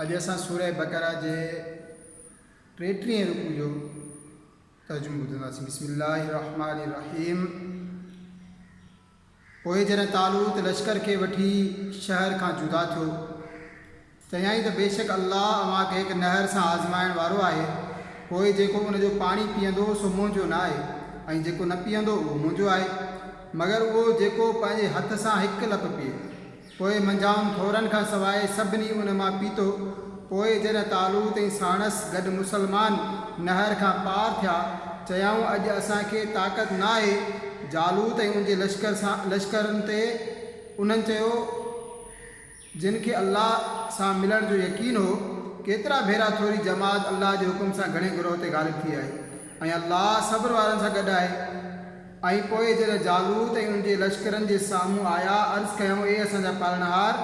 اڄ اسان سورة بقرة جي ٽيٽيهين رڪوع جو ترجمو ٻڌنداسين بسم الله الرحمن الرحيم پوء جڏهن طالوت لشڪر کي وٺي شهر کان جدا ٿيو چيائين ته بيشڪ الله اوهان کي هڪ نهر سان آزمائڻ وارو آهي پوء جيڪو ان جو پاڻي پيئندو سو منهنجو نه آهي ۽ جيڪو نه پيئندو اهو منهنجو آهي مگر اهو جيڪو پنهنجي هٿ سان هڪ لپ پيئي پوء منجهائن ٿورن کان سواء سڀني ان مان پيتو. پوء جڏهن طالوت ۽ ساڻس گڏ مسلمان نهر کان پار ٿيا، چيائون، اڄ اسان کي طاقت ناهي جالوت ۽ ان جي لشڪر سان لشڪرن تي. انهن چيو، جن کي الله سان ملڻ جو يقين هو، ڪيترا ڀيرا ٿوري جماعت الله جي حڪم سان گهڻي گروهه تي غالب ٿي آهي ۽ الله صبر وارن سان گڏ آهي. ۽ پوء جڏهن جالوت ۽ ان جي لشڪرن جي سامهون آيا، عرض ڪيائون، اي اسان جا پالڻهار!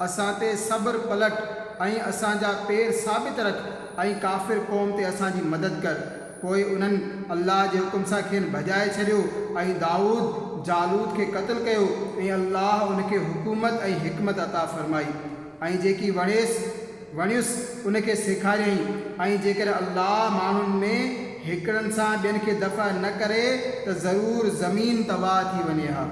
اسان تي صبر پلٽ ۽ اسان جا پير ثابت رک ۽ ڪافر قوم تي اسان جي مدد ڪر. پوء انهن، الله جي حڪم سان، کين ڀڄائي ڇڏيو ۽ دائود، جالوت کي قتل ڪيو ۽ الله ان کي حڪومت ۽ حڪمت عطا فرمائي ۽ جيڪي وڻيس، وڻيس، ان کي سيکاريائين، ۽ جيڪڏهن الله ماڻهن ۾ هڪڙن سان ٻين کي دفع نه ڪري ته ضرور زمين تباهه ٿي وڃي ها.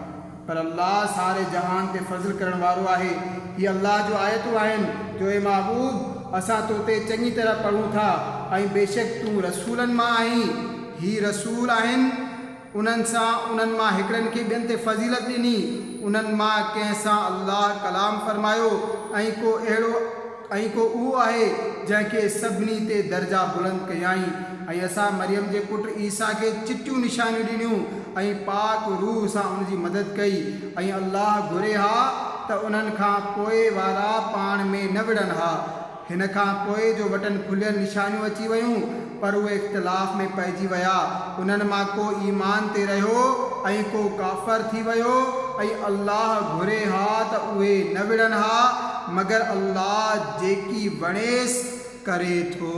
پر الله ساري جهان تي فضل ڪرڻ وارو آهي. هي الله جون آيتون آهن جو اي محبوب! اسان تو تي چڱي طرح پڙهون ٿا ۽ بيشڪ تون رسولن مان آهين. هي رسول آهن. انهن سان انهن مان هڪڙن کي ٻين تي فضيلت ڏني، انهن مان ڪنهن سان الله ڪلام فرمايو ۽ ڪو اهڙو ۽ ڪو اهو آهي جنهن کي سڀني تي درجا بلند ڪيائين ۽ اسان مريم جي پٽ عيسيٰ کي چٽيون نشانيون ڏنيون ۽ پاڪ روح سان ان جي مدد ڪئي ۽ الله گهري ها ته انهن کان پوء وارا پاڻ ۾ نه وڙهن ها. هن کان پوء جو وٽن کليل نشانيون اچي ويون، پر اهي اختلاف ۾ پئجي ويا، انهن مان ڪو ايمان تي رهيو ۽ ڪو ڪافر ٿي ويو، ۽ الله گهري ها ته اهي نه وڙهن ها، مگر الله جيڪي وڻيس ڪري ٿو.